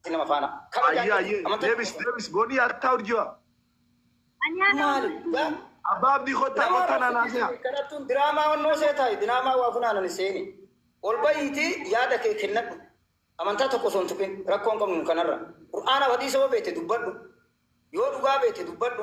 ati nama faana kabajaa Ayyee qabdu ayyee amantaa deebis qabdu. deebis boonii attaa urjiwa. Maali? Yaa Abbaa abdii kottaa nama kottaa naanaa rakkisiisu seha. kadhattuun diraamaa onnoo seetaa diraamaa waa funaanani seeni. Ol bahiitii yaada kee kennadhu. Amantaa tokko osoo hin tuqin rakkoo hin qabnu nu kanarra. Qur'aanaaf hadiisa yoo beekte dubbadhu. Yoo dhugaa beekte dubbadhu.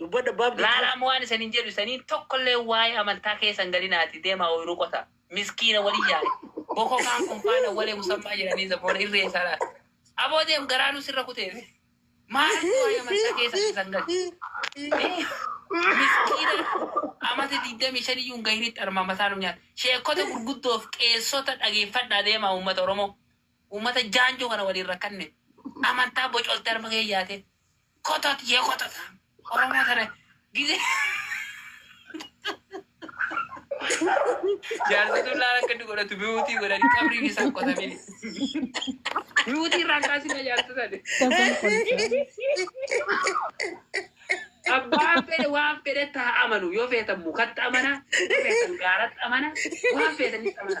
Dubbadhu abbaa abdii. Laala amma waan isanin jedhu isanin tokkollee waa'ee amantaa keessa hin galina ati deemaa ooyruu qotaa miskiina wali yaa'i boko kaan kun faan awwalee musammaa jedhanii zaboona irree isaa laata aboo deem garaanuu sirra kuteeti maaltu waa'ee amantaa keessa keessa hin galchi Ee, miskiina amata digdamii shan iyyuu hin gahinitti armaa mataa nu nyaata sheekota gurguddoof qeessota dhageeffadhaa deemaa uummata oromoo uummata jaanjoo kana waliin rakkanne amantaa bocoltee arma kee yaate Kotot yee kotot. Oromoo tana gizee. Jaarsi tun laala akka inni godhatu mi'uutii godhani qabriin isaa hin qotamini. Mi'uutii irraa kaasina jaarsi tani. Sabban qoricha. Abbaan fedhe waan fedhetti haa amanu. Yoo feetan mukatti amana, yoo feetan gaaratti amana, waan feetanitti amana.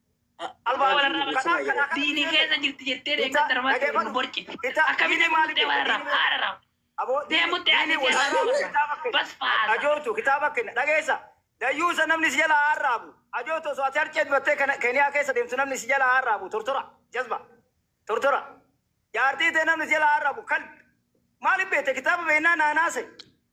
Diinii keessa jirti jettee deemaa darbaa jirti nu borci. Akkamitti murtee warra haadha deemutti ani bas faasa. Ajootu kitaaba kenna dhageessa. Dayyuusa namni si jala haarraabu. Ajootu osoo ati harceet battee Keniyaa keessa deemtu namni si jala haarraabu tortora jazba tortora. Jaartii tee namni si jala haarraabu kalbi. Maaliif beekte kitaaba beeknaa naanaase.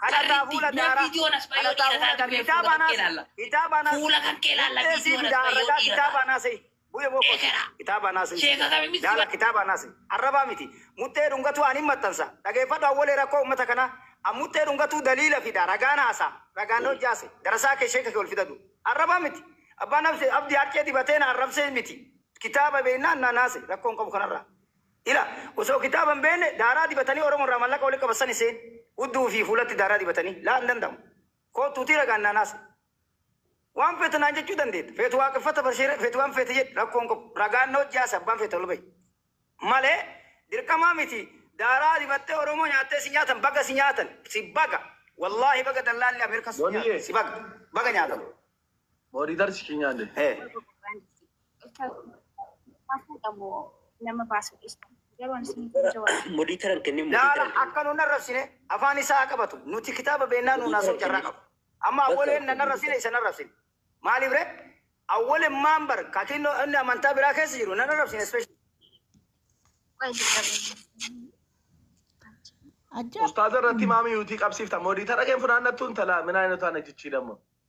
Kadhataa fuula daaraa. Kadhataa fuula daaraa. Kitaaba anaas. Kitaaba anaas. Fuula kan kee laalla. Qixxeessii bidaa arragaa kitaaba anaas. Bu'e boqoo. Kitaaba anaas. Laala kitaaba anaas. Arrabaa miti. Muxxee dhungatuu ani maxxansa. Dhageeffadhu awwalee rakkoo uummata kanaa. An muxxee dhungatuu daliila fida. Ragaan haasaa. Ragaan hojjaase. Darasaa kee sheeka kee ol fidadhu. Arrabaa miti. Abbaan abdi harcee dibatee na arrabsee miti. Kitaaba beennaan na naase. Rakkoon qabu kanarraa. Ila osoo kitaaba hin beekne daaraa dibatanii Oromo irraa mallaqa walitti qaban sani seen. Hudduu fi fuulatti daaraa dibatanii? Laa hin danda'amu. Koottuutii ragaan naan haasa'e. Waan feete naan jechuu dandeetta. Feetu waaqeffata barsiire feetu waan feete jedhi rakkoo hin qabu. Ragaan na wajji haasa'e abbaan feete ol bahi. Malee dirqamaa miti daaraa dibattee Oromoo nyaattee si nyaatan baga si nyaatan si baga wallaahi baga dallaalli Ameerikaa si nyaate si baga baga nyaatan. Mooriitar si nyaalle. Ee. nama baasu dhiistu garuu ani isin jawaabu. Modiitaran kennee Laala modiitaran kennee. akka nun arrabsine afaan isaa haa qabatu. Nuti kitaaba beennaa nuun haasa'u carraa qabu. Amma awwaleen nan arrabsine isa nan arrabsine. Maaliif ree? Awwaleen maan bar kakiin inni amantaa biraa keessa jiru nan arrabsine special. Qoy jajjabeenya. Ajab. Ustaaza irratti maamii yuutii qabsiifta. Moodiitara keen funaannattu intala minaa inni taana jichii damma.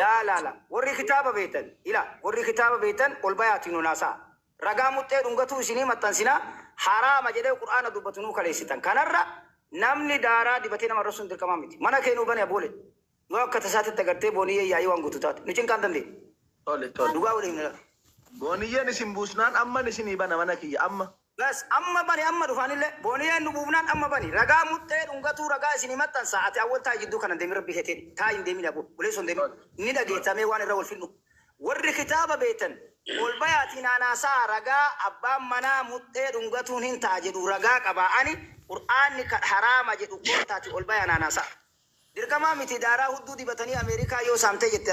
Laa laa laa worri kitaaba beetan ila worri kitaaba beetan ol bayaatii nun haasa'a ragaa muxxee dhungatuu isinii maxxansina haraama jedhee qur'aana dubbatu nuu kaleessitan kanarra namni daaraa dibatee nama arrabsuun dirqamaa miti mana kee nuu bani aboole yoo akka tasaatitti agartee booniyyeen yaa'ii waan guutu taate nu cinqaan dandeenyu. Tole tole dhugaa wali himna laa. Booniyyeen isin buusnaan amman isinii bana mana kiyya amma. Bas amma bani amma dhufa anille boniyeen nu buufnaan amma bani ragaa muxxee dhungatuu ragaa isinii maxxansaa ati awwal taa'i jidduu kana hin deemin rabbi keetiin taa'i hin deemin aboo buleesso hin deemin ni dhageettaa mee waan irra wal fixnu warri kitaaba beektan ol bayaatii naan haasa'aa ragaa abbaan manaa muxxee dhungatuun hin ta'a jedhu ragaa qabaa ani qur'aanni kan haraama jedhu koottaati ol bayaa naan haasa'aa dirqamaa miti daaraa hudduu dibatanii ameerikaa yoo saamtee jette